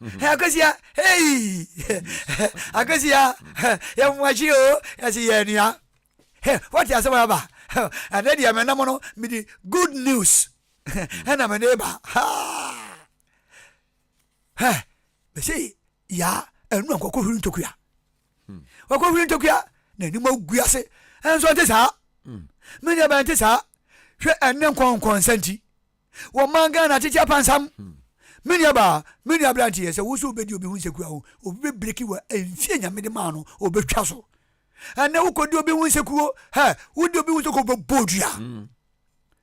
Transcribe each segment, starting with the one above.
Akosia hey Akosia yɛ mu akyi o yɛsi yɛ nua wɔte asɛm aba ɛnɛ deɛ mɛ nam no mede good news ɛna mɛ de ba mɛsɛ ya ɛnu ankɔkɔ hwiri ntokua wakɔ hwiri ntokua na anim agu ase ɛnso nte saa menya bɛnte saa hwɛ ɛne nkɔnkɔnsa nti Wɔ man Ghana tete apansam. Me nua baa, me nua abranteɛ sɛ wo so wobɛdi obi ho nsekua ho, obi bɛ breki wo a ɛnfie Nyame de maa no ɔbɛtwa so. Ɛnɛ wo kɔdi obi ho nsekuo, hɛ, wodi obi ho nsekuo ɔbɛbɔ odua.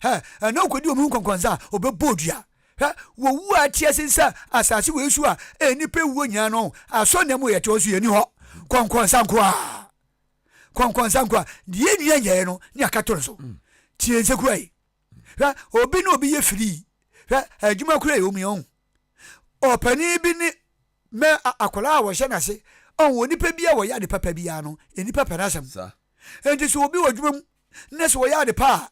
Hɛ, ɛnɛ wo kɔdi obi ho nkɔnkɔnsa a ɔbɛbɔ odua. Hɛ, wɔwu a ɛteɛ sen sɛ asase wɔ esu a ɛyɛ nipa ewuo nyinaa no, asɔ nna mu yɛte hɔ nso yɛni hɔ. Kɔnkɔnsa nko a. Kɔnkɔnsa nko a. Deɛ ɛnua nyɛɛ no ne akato no so. Tie nsekua yi. Hwɛ, obi ne obi yɛ firii. Hwɛ, adwuma kura yɛ omi, ɔn? Ɔpanin bi ne mɛ akwadaa a wɔhyɛ n'ase, ɔn? Onipa bi a wɔyɛ ade papa bi ara no, nnipa pɛ n'asɛm. Enti sɛ obi wɔ adwuma mu, na sɛ ɔyɛ ade pa a,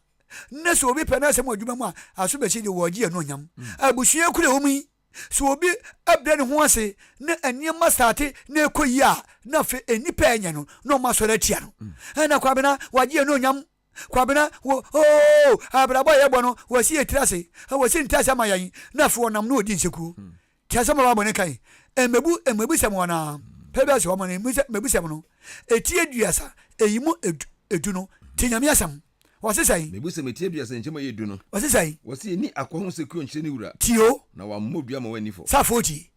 na sɛ obi pɛ n'asɛm wɔ adwuma mu a, aso bɛsi deɛ wɔregye anuonyam. Abusua kura omi. Sɛ obi brɛ ne ho ase, na nneɛma starte na ɛkɔ yie a, na afei nnipa a ɛnyɛ no, na wɔasɔre atia no. Ɛnna Kwabena, wɔagye anuonyam. Kwabena wo oo abrabɔ a yɛbɔ no wɔsi yɛ tiri ase wɔsi nte ase ama yɛn na afei wɔnam no ɔdi nsekuo te asɛm a bible no kae mmabu mmabusɛm wɔn ara pɛ bi ase wɔn mmabusɛm no ɛti aduasa ɛyi mu ɛdu no te nyame asɛm wɔse sɛn mmabusɛm ɛti aduasa nkyɛ mu ɛyɛ du no wɔse sɛn wɔse ɛni akɔ ho sekuo nkyerɛ ne wura tio na wammɔ dua ma wanni fɔ sɛ afɔ ɔti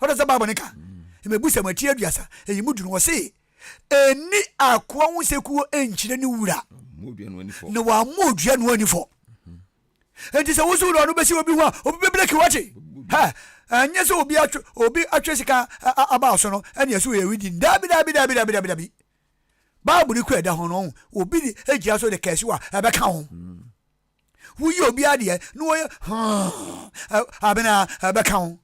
Ɔno sɛ Bible no ka mmebusɛm a ɛte aduasa, eyi mu du no, ɔse, Enni akoa ho sekuo nkyerɛ ne wura, na wammɔ odua no ani fɔ. Enti sɛ woso wura no bɛsi obi ho a, obi bɛbreki wakye. Ha, ɛnyɛ sɛ obi atwe, obi atwe sika aba so no, ɛne ɛso yɛ widi. Daabi, daabi, daabi, daabi, daabi, daabi. Bible no kura ɛda ho no, obi de gyina so de kɛse a ɛbɛka ho. Woyɛ obiara deɛ na wɔyɛ hɔn abena ɛbɛka ho.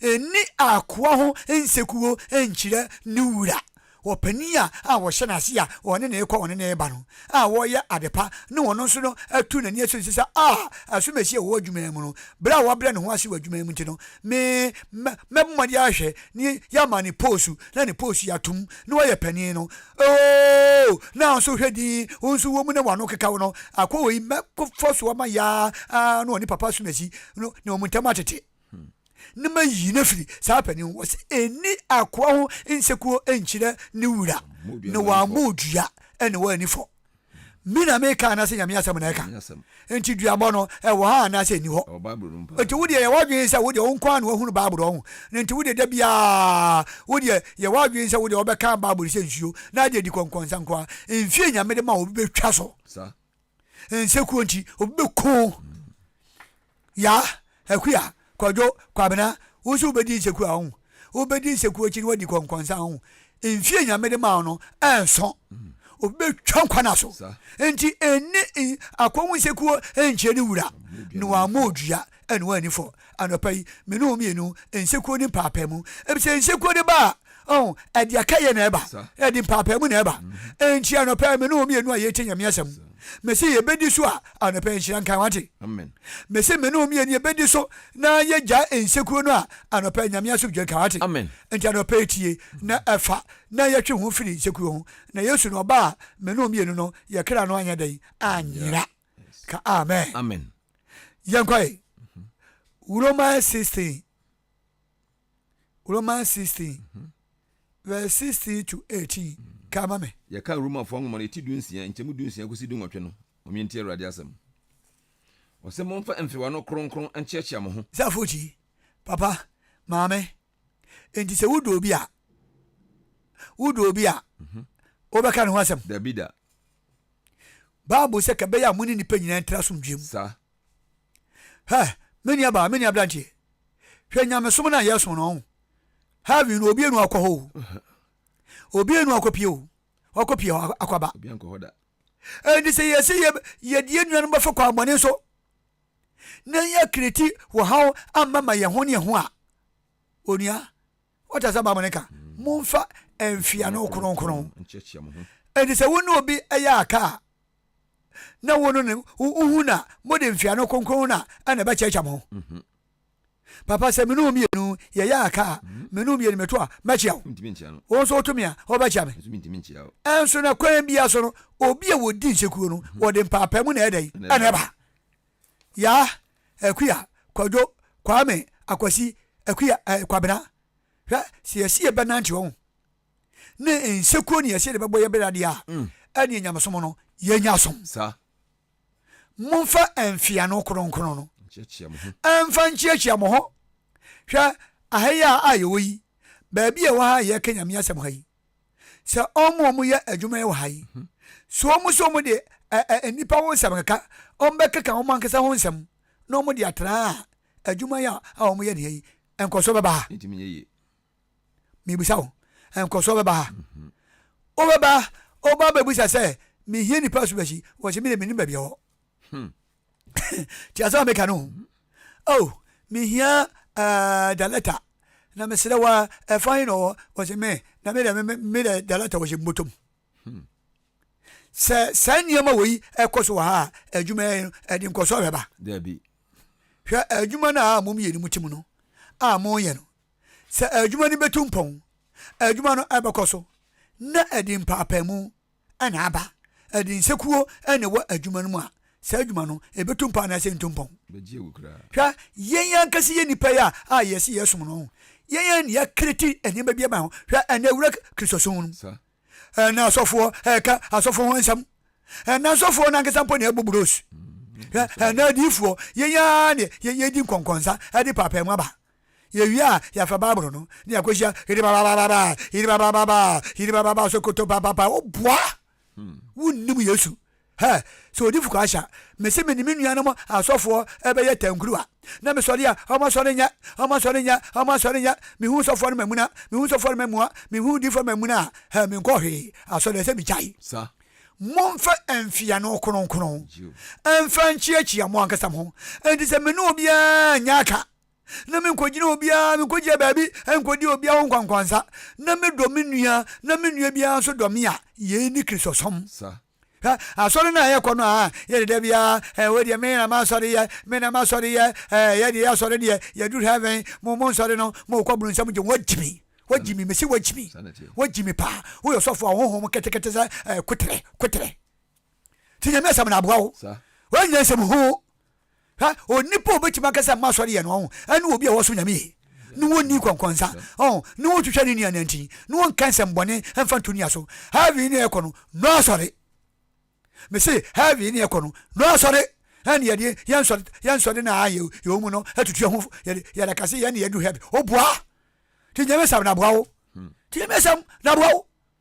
Nni akoa ho nsekuo nkyerɛ ne wura. Ɔpanin a a wɔhyɛ n'ase a ɔne no rekɔ ɔne no reba no a wɔreyɛ adepa na ɔno nso no atu n'ani aso ne so sɛ ah asomasi a ɔwɔ adwuma yi mu no berɛ a wabrɛ ne ho ase wɔ adwuma yi mu nti no me mɛbɔ mmɔden ahwɛ ne yɛama ne poosu na ne poosu yɛatom na wayɛ panin no Ooh! Nanso hwɛ dinn, wo nso wɔ mu na w'ano keka wo no. Akɔ wɔ yi, mɛkɔ fa so ama yaa ara na ɔne papa asomasi no ne wɔn ntam atete, na mayi no afiri saa panin ho. Wɔse ɛnni akoa ho nsekuo nkyerɛ ne wura, na wammɔ odua na w'ani fɔ. Me na meka anaasɛ Nyame asɛm na ɛka? Nti duabɔ no ɛwɔ ha anaasɛ ɛnni hɔ? Nti wodeɛ yɛ w'adwene sɛ wodeɛ wo nko ara na wahunu Bible no ɔho no nti wodeɛ da biara wodeɛ yɛ w'adwene sɛ wodeɛ wobɛka Bible no sɛ nsuo na adeɛ di kɔnkɔnsa nko ara mfie Nyame de ma obi bɛtwa so nsekuo nti obi bɛko Yaa, Akua, Kwadwo, Kwabena, wo nso wobɛdi nseku a, ɔho, wobɛdi nseku akyi no woadi kɔnkɔnsa a, ɔho, mfie Nyame de maa wo no ɛnso, obi bɛtwa nkwa no aso, nti ɛnni n, akɔ wo nsekuo nkyerɛ ne wura, na wammɔ odua na wanni fɔ, anɔpa yi, me ne wo mmienu, nsekuo ne mpaapaemu, ɛfisɛ nsekuo de ba a, Oh, ɛde akɛyɛ na ɛba, ɛde mpaapaamu na ɛba. Enti anɔpa yi, me ne wɔn mmienu a yɛretie Nyame asɛm, mese yɛbɛdi so a anɔpa yi nhyira nkae, wate? Mese me ne wɔn mmienu yɛbɛdi so na yɛgyae nsekuro no a anɔpa yi Nyame asomdwoe nka, wate? Enti anɔpa yi tie na ɛfa na yɛtwe ho firi nsekuro ho, na Yesu na ɔba a me ne wɔn mmienu no yɛ kra no anyɛ dɛn anyera. Ka amen. Yɛnkɔ ɛ. Romans 16. Romans sixteen verse sixteen to eighteen ka ma me. Yɛka Romafoɔ nwoma no eti dunsia, nkyɛmu dunsia kɔsi dunwɔtwe no, momyɛ ntie Awurade asɛm. Ɔse momfa mfewa no kronkron nkyeakyea mo ho. Sɛ afotuyi, papa, maame, enti sɛ wodɔ obi a, wodɔ obi a, mhm. wobɛka ne ho asɛm? Dabida. Bible sɛ ka bɛyɛ a mo ne nipa nyinaa ntra asomdwoe mu. Saa. Hɛ, me nuabaa, me nuabranteɛ, hwɛ nyamesom no a yɛsom no, ɔho, heaven no obienu akɔ hɔ o, obienu akɔpie o, wakɔpie hɔ akɔba. Ɛnti sɛ yɛsɛ yɛdeɛ nuanom bɛfa kwan bɔne so, na yɛakreti wɔ haw amma ma yɛn ho ne yɛn ho a, onua, Ɔkasa baa mu no ka, Momfa mfiano kronkron. Enti sɛ wo ne obi yɛ aka a, na wo no ne wohu no a, mode mfiano kronkron no a na ɛbɛkyɛkyɛ mo. Mhm. Papa, sɛ me ne wo mmienu yɛyɛ aka a, mhm. me ne wo mmienu meto a, mɛkyea wo. Wo nso woto me a, wobɛkyea me. Ɛnso na kwan biara so no, obi a wɔdi nsekuro no, mhm. wɔde mpaapaa mu na ɛdɛn ɛna ɛba. Yah, Akua, Kwadwo, Kwame, Akwasi, Akua, eh, Kwabena. Hwɛ, sɛ yɛse yɛbɛnante ɔho ne nsekuo ne yɛse yɛde bɛbɔ yɛ bra deɛ a, mm. ɛneɛ nyamesom no yɛnya som. Momfa mfiano kronkron no ɛmfa nkyiakyia mo ho. Hwɛ, aha yi a yɛwɔ yi, baabi a ɛwɔ ha a yɛka Nyame asɛm ha yi, sɛ wɔn a wɔyɛ adwuma yi wɔ ha yi, so wɔn nso wɔde nnipa ho nsɛm keka, wɔbɛkeka wɔn ankasa ho nsɛm na wɔde atra a adwuma yi a wɔyɛ ne yi nkɔsoɔ bɛba ha. Mebisa wo, nkɔsoɔ bɛba ha? Mhm. Wobɛba, woba bɛbisa sɛ, mehia nipa so bɛsi, wɔsɛ me de menim baabi ɛwɔ. Hmm. Ti asɛm a meka no ho. Oh, mehia uh, da letter. Na mesrɛ wa, ɛfa he na ɔwɔ? Ɔse me, na me dɛ, me dɛ da letter wɔhyɛ mmotom. Hmm. Sɛ saa nneɛma wɔ yi ɛkɔ so wɔ ha a, adwuma yɛ no, ɛde nkɔso ahwɛ ba. Dabi. Hwɛ adwuma no a mom yɛ no mu tim no, a monyɛ no. Sɛ adwuma no bɛtu mpɔn, adwuma no ɛbɛkɔ so, na ɛde mpaapaemu na aba. Ɛde nsekuo na ɛwɔ adwuma no mu a, saa adwuma no, ɛbɛtu mpɔn anaasɛ ɛntu mpɔn? Hwɛ, yɛn ankasa yɛ nnipa yi a, a yɛse yɛsom no no, yɛn yɛn na yɛakreti nneɛma bi ama ho. Hwɛ, ɛnnɛ wura Kristosom no mu. Ɛnnɛ asɔfoɔ ɛreka asɔfoɔ ho nsɛm. Ɛnnɛ asɔfoɔ no ankasa mpo na ɛbɔ bros. Hwɛ, ɛnnɛ adiyifoɔ, yɛn ara na yɛdi nkɔnkɔnsa de paapaemu aba. Yewie a, yɛafa Bible no na yɛakɔhyia yiribabababa, yiribabababa, yiribababa, sokoto papapa. Woboa! Hmm. Wonnim Yesu. Hɛ, sɛ ɔdi fukɔ ahyɛ a, mese me ne me nuanom asɔfoɔ ɛbɛyɛ tankuruwa. Na mesɔre a, ɔmo asɔre nyɛ, ɔmo asɔre nyɛ, ɔmo asɔre nyɛ. Mehu sɔfoɔ no mamuna, mehu sɔfoɔ no mamua, mehu difoɔ mamuna a, hɛ, menkɔ hwee. Asɔre ɛsɛ megyae. Sa. Momfa mfiano kronkron mfa nkyiakyia mo ankasa mo ho. Enti sɛ me ne obiara nyɛ aka na menkogyina obiara, menkogyina baabi nkodi obiara ho nkwankwansa, na medɔ me nua, na me nua biara nso dɔ me a, yei ne Kristosom. Sa. Hwɛ, asɔre no a yɛkɔ no a, yɛde da biara, eh, wei deɛ me na m'asɔre yɛ, me na m'asɔre yɛ, eh, yɛ deɛ yɛasɔre deɛ, yɛduru heaven, mo mo nsɔre no, mo kɔ bunu nsɛm gye, wɔagyi me, wɔagyi me, mesi wɔagyi me, wɔagyi me paa, woyɛ sɔfo a honhom ketekete sɛ eh, kotere, kotere. Ti nyame asɛm na aboa wo. Sa. Wɔn nyɛ nsɛm ho. Hwɛ, onipa a obetumi aka sɛ mma asɔre yɛ no, ɔho, ɛne obi a wɔsom Nyame yie, ne wɔn nni nkɔnkɔnsa, ɔho, ne wɔn ntwitwa ne nua nantin, ne wɔn nka nsɛm bɔne mfa nto nua so. Heaven ne ɛkɔ no, no asɔre. Me se, heaven ne ɛkɔ no, no asɔre. Ɛne yɛde yɛn nsɔre, yɛn nsɔre na a yɛ yɛ mu no, ɛtutu ɛho, yɛde yɛde akase yɛn ne yɛdu heaven. Oboa. Ti nyame sam na boa wo. Ti nyame sam na boa wo.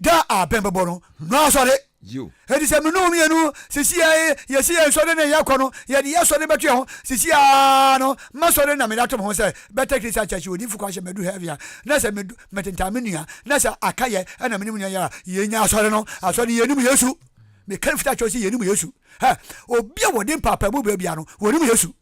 Da a bɛn bɛbɔ no no asɔre. Enti sɛ me ne wo mmienu sisi a yɛsi yɛn sɔre ne yɛkɔ no, yɛde yɛn sɔre bɛto yɛn ho. Sisi a no, mɛsɔre na mede ato me ho sɛ Betel Christian Church odiyifo kwan hyɛ madu heaven a, na sɛ medu metentan me nua, na sɛ aka yɛ na me ne me nua yɛ a, yɛnya asɔre no. Asɔre no, yɛnnim Yesu. Meka no fitaa kyerɛ wo sɛ yɛnnim Yesu. Hɛ! Obi a wɔde mpaapaemu brɛ biara no, wɔnnim Yesu.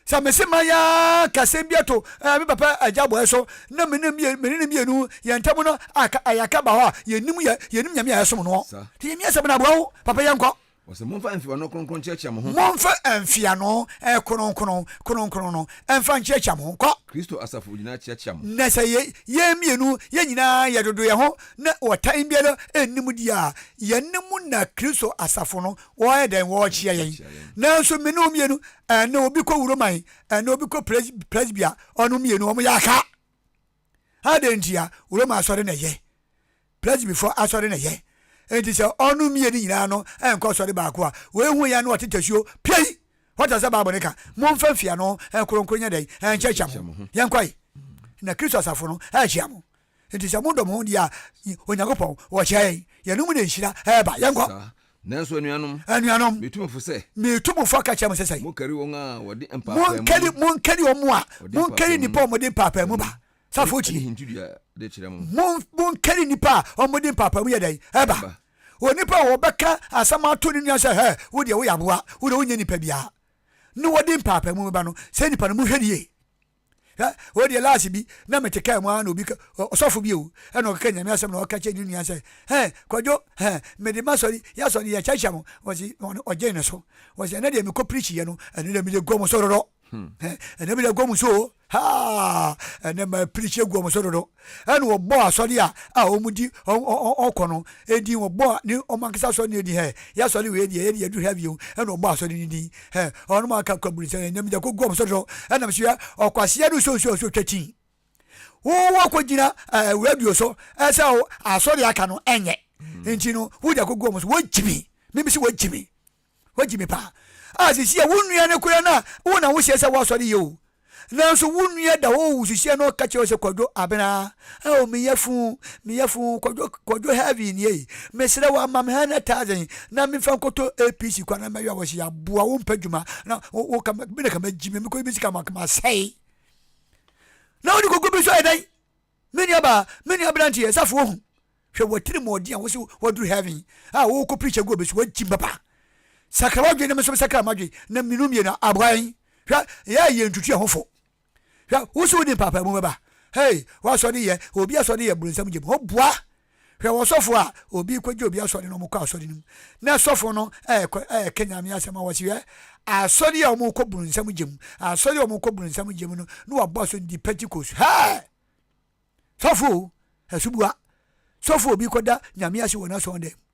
Sɛ mese man ara ka asɛm bi to ɛɛ me papa agya bɔɛ so na me ne me ne mmienu yɛn ntam no aka ayɛ aka ba hɔ a yɛnim yɛ yɛnim nyame a yɛsom noɔ nti yɛmi asɛm no aboa wo papa yɛnkɔ Wɔsɛ momfa mfeano kronkron nkyerɛkyerɛ mo ho. Momfa mfeano eh, kronkron kronkron no mfa nkyerɛkyerɛ mo ho. Kɔ. Kristo asafo nyinaa kyerɛkyerɛ mo. Na sɛ yɛ yɛn mmienu yɛn nyinaa yɛdodo yɛn ho na ɔtan biara nnim deɛ a, yɛne mo na Kristo asafo no Wɔyɛ dɛn? Wɔrekyea yɛn. Nanso me ne wɔn mmienu, ɛnne obi kɔ Wuroman, ɛnne obi kɔ Pres, Presbya, wɔn mmienu, wɔn yɛ aka. Adɛn ntia? Wuroman asɔre na ɛyɛ. Presbyfoɔ asɔre na ɛyɛ. Enti sɛ wɔn mmienu nyinaa no nkɔ sɔre baako a, wei hu yɛn no ɔte tasuo, piei! What does the Bible no ka? Momfa mfiano nkronkron nyɛ dɛn? Nkyɛkyɛ mo. Yɛnkɔe. Na Kristo asafo no rekyea mo. Enti sɛ modɔ mo ho deɛ a, Onyankopɔn, wɔkyerɛ yɛn, yɛn mu na nhyira reba. Yɛnkɔ. Saa. Nanso anuanom. Anuanom. Metu mo fo sɛ. Metu mo fo ka kyerɛ mo sɛ sɛn? Monkari wɔn a wɔde mpaapaamu. Monkari, monkari wɔn a, monkari nnipa a wɔde mpaapaamu ba. Safoɔ tie. Ɛne hintidua de kyerɛ mo. Mon, monkari nnipa a wɔde mpaapaamu yɛ dɛn? Ɛba. Onipa a wɔbɛka asɛm ato ne nua sɛ, hɛ, wo deɛ woyɛ aboa, wo deɛ wonyɛ nipa biara, ne wɔde mpaapaamu ba no, saa nipa no monhwɛ no yie. Hwɛ, wei deɛ last bi na mete kaa mu ara na obi ka, ɔsɔfo bi o, ɛna ɔkeka Nyame asɛm na ɔka kyerɛ ne nua sɛ, hɛ, Kwadwo, hɛ, mede m'asɔre, y'asɔre yɛkyerɛkyerɛ mo, wɔsi, ɔgyee ne so, wɔsi, ɛnɛ deɛ mekɔ preach yɛ no, ɛnɛ deɛ mede gu wɔn so dodo, hɛ, ɛnɛ mede gu wɔn so o, haa, ɛnɛ ma preach gu wɔn so dodo. Ɛna wɔbɔɔ asɔre a a wɔdi ɔkɔ no din, wɔbɔɔ ne wɔn ankasa asɔre no din, hɛ, yɛ asɔre wei deɛ, yɛ deɛ yɛduru ha bio, ɛna wɔbɔɔ asɔre no din, hɛ, wɔn a aka kɔ bonsam, ɛnam gya kɔgu wɔn so dɔ, ɛnam so yɛ ɔkwaseɛ ne nsuo nsuo a nsuo twa kyin. Wowɔ akɔgyina ɛɛ radio so ɛsɛ asɔre aka no ɛnyɛ, nti no wode akɔgu wɔn so, wɔgye me, mebisi wɔgye me. Wagye me paa. A sisi a wo nua no koraa na wo na wo hyɛ sɛ w'asɔre yɛ o. Nanso wo nua da hɔ o wusisia na ɔka kyerɛ wo sɛ Kwadwo Abena a o me yafun, me yafun Kwadwo Kwadwo heavy nie yi. Mesrɛ wo ama me hundred thousand na me nfa nkɔtɔ APC kwan na mɛyɔ awɔsi aboa wo mpɛ dwuma na wo wo ka me na ka magyi me mekɔ bi sika ma ka masɛe. Na wo de koko bi so ayɛ dɛn? Me nuabaa, me nua aberanteɛ, safoɔ ahu, hwɛ w'atirimuɔden a wose woaduru heaven a worekɔ preach agu obi so, woagyim papa. Sakra w'adwene na me nso mesakra m'adwene, na mmienu mmienu a, aboa yɛn. Hwɛ, yɛn a yɛntutu yɛn ho fo. Hwɛ, wose wode mpaapaemu bɛba. Hey, w'asɔre yɛ, obi asɔre yɛ bronsam gyem, ho boa Hwɛ ɔsɔfo a obi kɔgye obi asɔre na wɔkɔ asɔre no mu na sɔfo no reka Nyame asɛm a wɔse hwɛ asɔre yi a wɔkɔ bronsam gye mu, asɔre a wɔkɔ bronsam gye mu no na wɔabɔ aso no di Pentecost. Hɛɛ! Sɔfo o! Asuboa! Sɔfo a obi kɔda Nyame ase wɔ n'asɔre dan mu.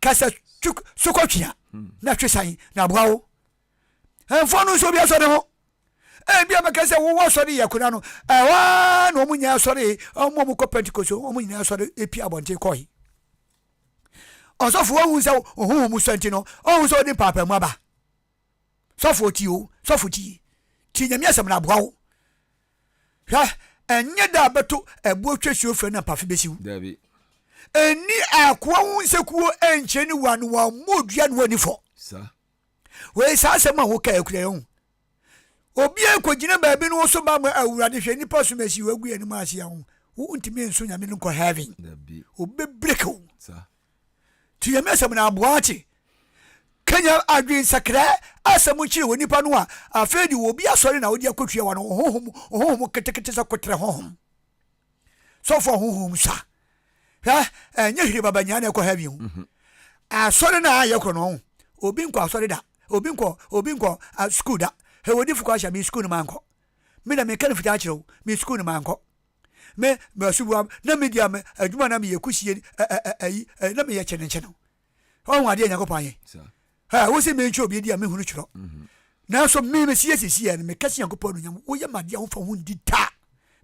ka sɛ twe so kɔ twea hmm. na twe san na aboa wo ɛmfa no nso obi asɔre ho ebi a mɛka sɛ wowɔ asɔre yɛ kora no ɛhɔ ara na wɔn nyinaa asɔre wɔn a wɔkɔ pentecost wɔn nyinaa asɔre epi abɔnten kɔe ɔsɔfo wɔn hu sɛ ohun wɔn sɔ nti no ɔhun sɛ ɔde mpaapaa mu aba. Sɔfoɔ tie o, sɔfo tie. Tie Nyame asɛm na aboa wo. Hwɛ, ɛnyɛ da a bɛto ɛboɔ twa suo frɛ na mpafe bɛsi wo. Dabi. Ɛnni akoa wo nsakuo ɛnkyerɛ ne wura no wammɔ odua na wanni fɔ. Sa. Wei saa asɛm a wo kae kura yɛ ho. Obiara kɔ gyina baabi no wo so ba ma awurade hwɛ nipa som asi wagu yɛ no mu ase a wo ntumi nso Nyame no nkɔ heaven. Dabi. Obe break wo. Sa. Tiemi asɛm na boa akye. Kanya adwensakra asɛm kyerɛ wɔ nipa no a afei de obi asɔre na wode akɔtua wa no ɔhohom ɔhohom ketekete sɛ koterɛ hohom. Sɔfo ahohom sa. Hwɛ, ɛnyɛ hire baba nyaa na ɛkɔ heaven ho. Mhm. Asɔre na ayɛ korɔ no ho. Obi nkɔ asɔre da. Obi nkɔ obi nkɔ uh, school da. Hwɛ wɔ difo kɔ ahyɛ me school no mankɔ. Me na meka no fitaa kyerɛ wo. Me school no mankɔ. me masuboa na medi a me adwuma na meyɛ kusie ɛ ɛ ɛ ayi ɛ na meyɛ kyenenkye no ɔho adeɛ nyankopɔn ayɛ ɛ wo se mentwerɛ obi adi a mehunu twerɛ mhm. nanso me mesiyɛ sisiɛ no meka se nyankopɔn anuonyam woyɛ madeɛ a wofa ho ndi da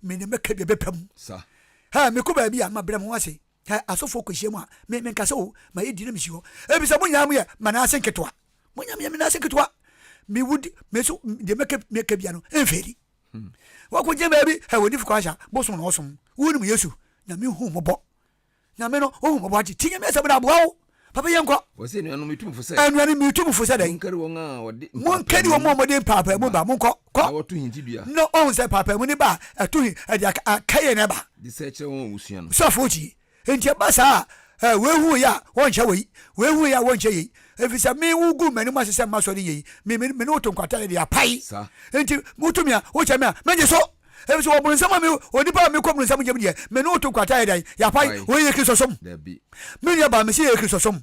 me ne mɛka bia bɛpɛ mu ɛ mekɔ baabi a mabrɛ mo ho ase ɛ asɔfoɔ kɔhyia mu a me menka sɛ o mayɛ di na mesi hɔ ebisa mo nyinaa mo yɛ manaase nketewa mo nyinaa meyɛ manaase nketewa mewudi meso deɛ mɛka bia no ɛmfɛli Hmm. Wakogyina baabi, hɛ wɔ difo kwahyɛ a, bosom na ɔsom. Wonim Yesu, Nyame hu mmɔbɔ. Nyame no, ohu mmɔbɔ ate. Ti Nyame asɛm na aboa wo. Papa yɛ nkɔ. Wɔsɛ anuanom metu mfo sɛ. Anuanom metu mfo sɛ dɛn. Monkari wɔn a wɔde mpaapaamu. Monkari wɔn a wɔde mpaapaamu ba. Monkɔ, kɔ. Na wɔto hintidua. Na ɔhu sɛ mpaapaamu ne ba a ɛto hin, ɛde akaye na ɛba. De sɛ kyerɛ wɔn a wɔsua no. Sɔfo tie. Enti ɛba saa a, ɛ, wei hu yɛ a, wɔnhyɛ wei, wei hu yɛ a, wɔnhyɛ yei, efisɛ me wo guu m'anim ase sɛ mma sɔre nyɛ yi, me, me, me ne wo to nkwata yɛ de apae. Enti woto me a, wokyɛ me a, megye so, efisɛ wɔ bonsam a me, onipa a mekɔ bonsam nkyɛn mu deɛ, me ne wo to nkwata yɛ dɛn? Yɛapae. Wei yɛ Kristosom? Me nuabaa, mese ɛyɛ Kristosom.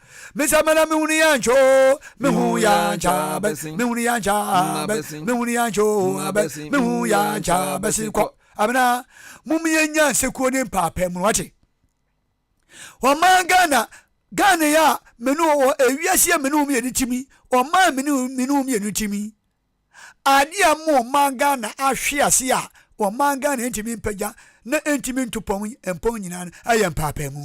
Me sa mana me hunu ya ncho me hu ya ncha besi me hunu ya ncha besi me hunu ya ncho abe me hu ya ncha besi kɔ abena mum yɛ nya nsekuo ne mpaapɛ mu wate ɔman Ghana Ghana ya menu wɔ ewiase yɛ menu mu yɛ ne timi ɔman menu menu mu yɛ ne timi adeɛ a mo ɔman Ghana ahwe ase a ɔman Ghana ntumi mpagya na ntumi ntopɔn mpɔn nyinaa ɛyɛ mpaapɛ mu.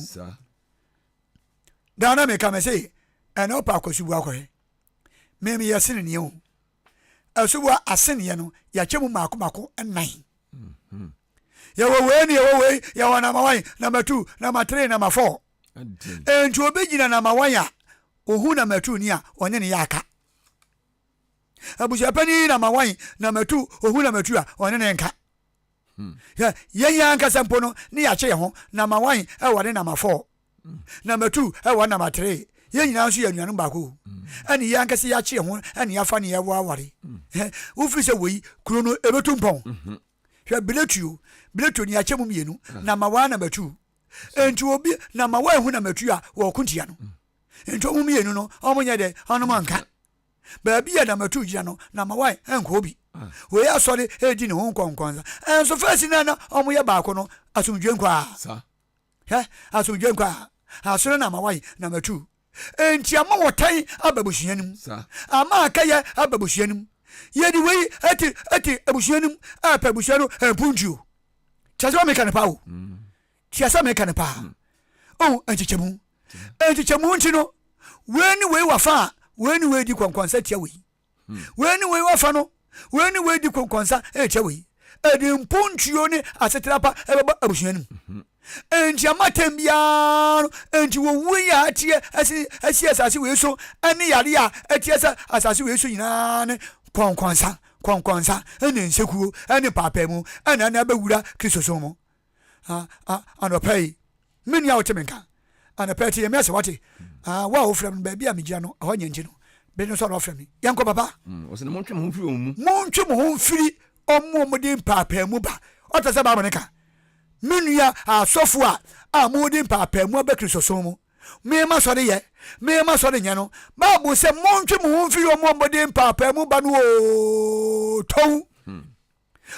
Ghana me ka me se ɛna ɔpɛ akɔ suboa kɔ he me me yɛ seneneɛ o asuboa aseneɛ no yɛakyɛ mu mako mako nnan mm-hmm. yɛwɔ wei ne yɛwɔ wei yɛwɔ nama wan nama tu nama tere nama fɔ nti obi gyina nama wan a ohun nama tu ni a ɔne ne yɛ aka abusuapɛni nama wan nama tu ohun nama tu a ɔne ne nka Hwɛ, yɛn yɛn ankasa mpo no, ne yɛakye yɛn ho, na ma wan wɔ ne nam afɔɔ, na matu wɔ nam ateree, yɛn nyinaa nso yɛ anuanom baako, ɛne yɛn ankasa yɛakye yɛn ho ne yɛafa ne yɛwɔ aware, wofiri sɛ wei, kuro no, ɛbɛtu mpɔn. Hwɛ, biletuo, biletuo, ne yɛakyɛ mu mmienu, na ma wan na matu. Enti obi, na ma wan hu na matu a wɔɔko ntia no. Enti wɔn mmienu no, wɔnyɛ dɛ, wɔnom nka. Baabi a na matu gyina no, na Mawai nkɔ hɔ bi. Wei asɔre redi ne ho nkɔnkɔnsa. Nanso fɛsi no a na wɔyɛ baako no, asomdwoe nkɔ a. Hwɛ, asomdwoe nkɔ a. Asɔre na Mawai na matu. Enti ama wɔtan aba abusua no mu. Ama aka yɛ aba abusua no mu. Yɛde wei te te abusua no mu, ɛpɛ abusua no mpuntuo. Kyerɛ sɛ meka no paa o. Kyerɛ sɛ meka no paa. Oh, nkyekyɛmu. Nkyekyɛmu nti no, wei ne wei wafa a, wei ne wei di kɔnkɔnsa tia wei. Wei ne wei wafa no, wei ne wei di kɔnkɔnsa tia wei. Ɛde mpontuo ne asetra pa ɛbɛbɔ abusua no mu. Enti amatɛm biara no, enti wɔwuo yi a ateɛ asi, asi asase wei so ne yareɛ a ateɛ sɛ asase wei so nyinaa ne kɔnkɔnsa, kɔnkɔnsa ne nsekuo ne paapaamu ɛna ɛna ɛbɛwura Kristosom mu. ah, ah, anɔpa yi me nua a wote me nka anɔpa yi te yɛ me ase wate ah, wo a wofrɛ me baabi a megyina no ɛhɔ nyɛ nti no bere no nso a na ɔfrɛ me yɛnkɔ papa mm, ɔsɛ montwe mo ho mfiri wɔn mu montwe mo ho mfiri ɔmo a wɔde mpaapaamu ba ɔtɛ sɛ baabɔ ne ka me nua asɔfo a a mode mpaapaamu aba kristosom mu mema sɔre yɛ mema sɔre nyɛ no bible sɛ montwe mo ho mfiri ɔmo a wɔde mpaapaamu ba no o tɔw hmm.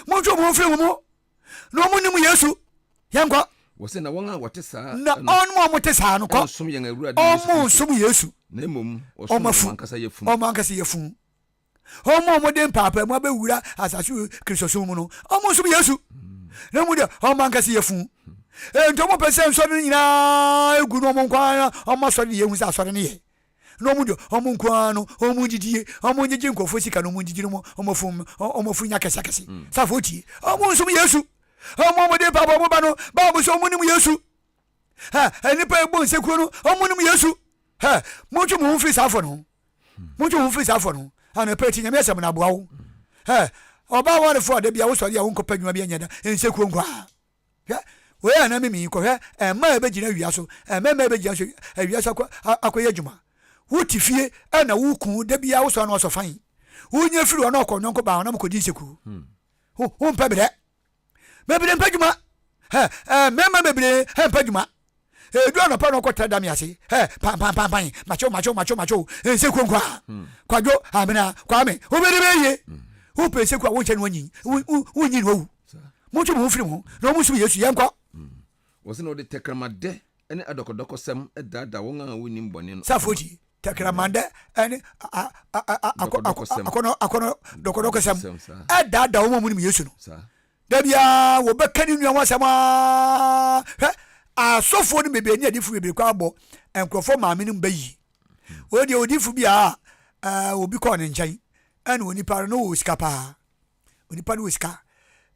Montwe wɔn ho mfiri mo mu, na wɔn nnim Yesu. Yɛn kɔ. Wɔsɛ na wɔn a wɔte saa. Na wɔn a wɔte saa no kɔ. Wɔn som yɛn awurade Yesu Kristo. Wɔn som Yesu. Na mmom wɔsom wɔn ankasa yafunu. Wɔn ankasa yafunu. Wɔn a wɔde mpaapaemu abɛwura asase wɔ Kristo som mu no, wɔn som Yesu. Na mmom deɛ wɔn ankasa yafunu. Enti wɔn pɛ sɛ nsɔre no nyinaa egu no wɔn nko ara wɔn asɔre de yɛn hu sɛ asɔre no yɛ. na ɔmo dɔ ɔmo nko ara no, ɔmo ndidi yie, ɔmo ngyegye nkorɔfoɔ sika na ɔmo ngyegye no ɔmo fom, ɔmo fo nya kɛse akɛse. Safoɔ tie, ɔmo nsom Yesu, ɔmo ɔmo de paabo ɔmo ba no, Bible se ɔmo nim Yesu. Hɛ, nnipa ɛbɔ nsekuro no, ɔmo nim Yesu. Hɛ, montwe mo ho mfiri saa afɔ no ho, montwe mo ho mfiri saa afɔ no ho. Anɔpa yi tie Nyame asɛm na aboa wo. Hɛ, ɔbaa awarefoɔ a da bi a wo sɔre a wo nkɔ pɛ adwuma bi nyɛ da, nsekuro nko ara. Hwɛ, wei a na mimi yi, kɔhwɛ mmaa a ɛbɛgyina awia so, mmarima a ɛbɛgyina so awia so akɔ, akɔyɛ adwuma. Wote fie na wo kunu da biara wosɔ ano ɔsɔ fann. Wonya firi hɔ na ɔkɔ ɔnyɔnko baa hɔ na mokɔdi nseku. Ho, hompɛ berɛ. Bebree mpɛ adwuma. Hɛ, ɛɛ, mmarima bebree mpɛ adwuma. Edu anɔpa na ɔkɔtra dame ase. Hɛ, pampampampae, makyew, makyew, makyew, makyew, nseku nko ara. Hmm. Kwadwo, amena, Kwame, wobɛdi bɛ yie. Hmm. Wopɛ nseku a wonhyɛ no anyin, wonyin no awu. Montwe mo ho mfiri ho na wɔn nsom Yesu, yɛnkɔ. Hmm. Wɔsɛ na wɔde tɛkramadɛ ne adɔkɔdɔkɔsɛm daadaa wɔn a wonnim bɔne no. Safo ti, tɛkramadɛ ne akɔnɔ dɔkɔdɔkɔsɛm ɛdaadaa wɔn a wɔnim Yesu no. Da biara wɔbɛka ne nua ho asɛm aa. Hwɛ, asɔfoɔ no bebree ne adiifoɔ bebree kɔ abɔ nkurɔfoɔ maame no ba yie. Wɔn deɛ odiifo bi a ɛɛ obi kɔɔ ne nkyɛn ɛna onipa no wɔ sika paa. Onipa no wɔ sika.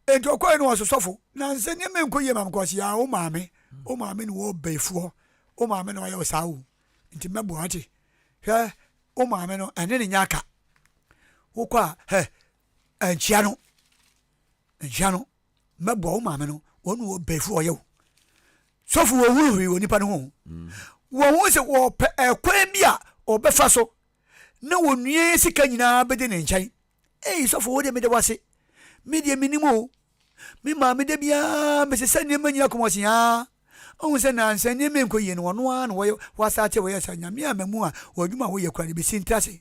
Enti ɔkɔɛ no ɔso sɔfo na nsɛ nneɛma nkɔ yie maame kɔsi a wo maame wo maame na wɔ bɛyifoɔ wo maame na ɔyɛ ɔsaa o nti mɛboa ate hwɛ wo maame no ɛne ne nyɛ aka wokɔ a hɛ Nkyia no nkyia no mɛboa wo maame no wɔn na wɔ bɛfu ɔyɛ wo sɔfo wɔ hunu hwee wɔ nipa no ho mm. wɔn ho sɛ wɔpɛ ɛkwan bi a ɔbɛfa so na wɔnua yɛ sika nyinaa bɛdi ne nkyɛn ei sɔfo wo deɛ meda wase me deɛ menim o me maame da biara mese sɛ nneɛma nyina kɔmɔsen aa ɔhu sɛ nansa nneɛma nkɔ yie no ɔno ara na wɔyɛ wɔasate wɔyɛ sɛ nyame a mamu a wɔadwuma a wɔyɛ kora no bɛsi ntra se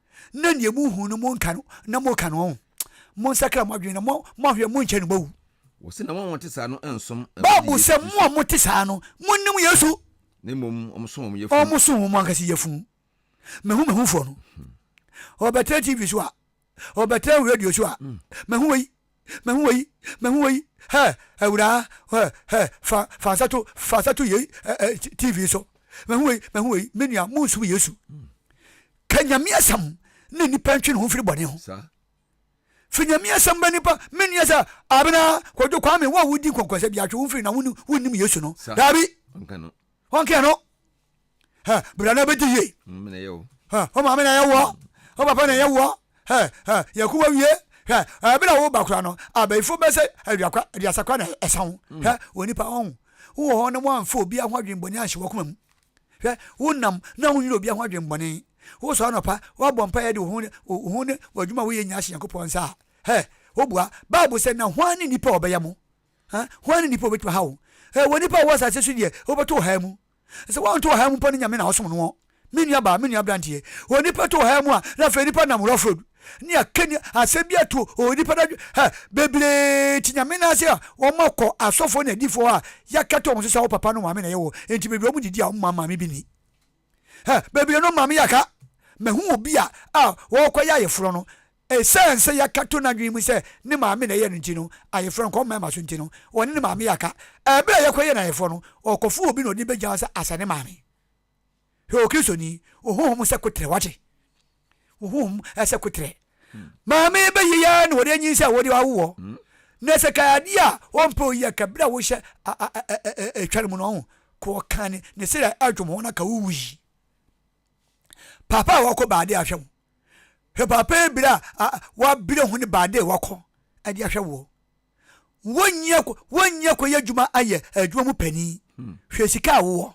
na nea mo hu no mo nka no na mo ka no ɔn mo nsakra mo adwene na mo mo ahwɛ mo nkyɛ no mo wu. Wɔsi na wɔn a wɔte saa no nsom Awurade Yesu Bible sɛ mo a mote saa no mo nim Yesu. Na mmom wɔn so wɔn yafunu. Wɔn so wɔn ankasa yafunu. Mehu mehu foɔ no. Ɔbɛtena TV so a, ɔbɛtena radio so a, mehu wei. Mɛhu wɔ yi, mɛhu wɔ yi, hɛ, Awuraa, hɛ, hɛ, fa, fa nsa to, fa nsa to yei, ɛ, ɛ, TV so. Mɛhu wɔ yi, mɛhu wɔ yi, me nua, mo nsum Yesu. Ka Nyame asɛm na nipa ntwe ne ho mfiri bɔne ho. Sa. Fi Nyame asɛm bɛ nipa, me nua sɛ, Abena, Kwadwo, Kwame, wo a wodi nkɔnkɔnsɛ bia twe wo mfiri na wonnim Yesu no. Sa. Daabi. Ɔnka no. Ɔnka no. hɛ bra na bɛdi yie hɛ o maame na yɛ wɔ o papa na yɛ wɔ hɛ hɛ yɛ ko wɔ wie hɛ ɛbi na wo ba kora no abɛyifo bɛ sɛ aduakwa aduasakwa na ɛsa ho hɛ wɔ nipa ɔn wowɔ hɔ na wɔamfa obi ho adwembɔne anhyɛ wɔ koma mu hwɛ wonam na wonyina obi ho adwembɔne wosɔ anɔpa woabɔ mpa yɛ de wo ho ne w'adwuma woyɛ nyina hyɛ nyankopɔn nsa a hɛ wobua bible sɛ na hwan ne nipa ɔbɛyɛ mo hwan ne nipa ɔbɛtumi ha wo wɔ nipa a wɔ asase so deɛ wobɛto ɔhaa mu Sɛ wɔnto ɔhaw mu mpo ne Nyame na ɔsom noɔ. Me nua baa, me nua abranteɛ, wɔ nipa to ɔhaw mu a, na afei nipa nam rough road, ne aka ni asɛm bi ato ɔ nipa no adwe, hɛ, bebree te Nyame nan ase a wɔn akɔ asɔfoɔ ne adifoɔ a yɛakata wɔn so sɛ wo papa no maame na ɛyɛ wo, enti bebree wɔn didi a wɔn ma maame bi ni. Hɛ, bebree no maame yɛ aka, mahu obi a a ɔɔkɔ yɛ ayeforɔ no, Esiane sɛ yɛaka to n'adwene mu sɛ ne maame na ɛyɛɛ no nti no, ayeforɔ no, kɔm mmarima so nti no, ɔne ne maame yɛ aka. Ɛberɛ a yɛkɔyɛɛ no ayeforɔ no, ɔkɔfoo obi na ɔde no bɛgyaa hɔ sɛ asɛ ne maame. Hwɛ Okristoni, wo honhom sɛ koterɛ, wate? Wo honhom sɛ koterɛ. Maame bɛ yi ara na wɔde anyinsɛn a wɔde awo wɔ. Na sɛ ka adeɛ a ɔmpɛ oyi a, ka berɛ a wohyɛ ɛtwa no mu no, ɔho, ka ɔka ne, ne sere a adwom ho na ka wowu yi. Paapa a wɔkɔ baade a hwɛ wo. Hwɛ paapa ebira a a wɔabira hɔn baa dɛ wɔakɔ dze ahwɛ woɔ. Wonnyi akɔ wonnyi akɔyɛ edwuma ayɛ edwuma mu panyin. Hwɛ sika a wowɔ.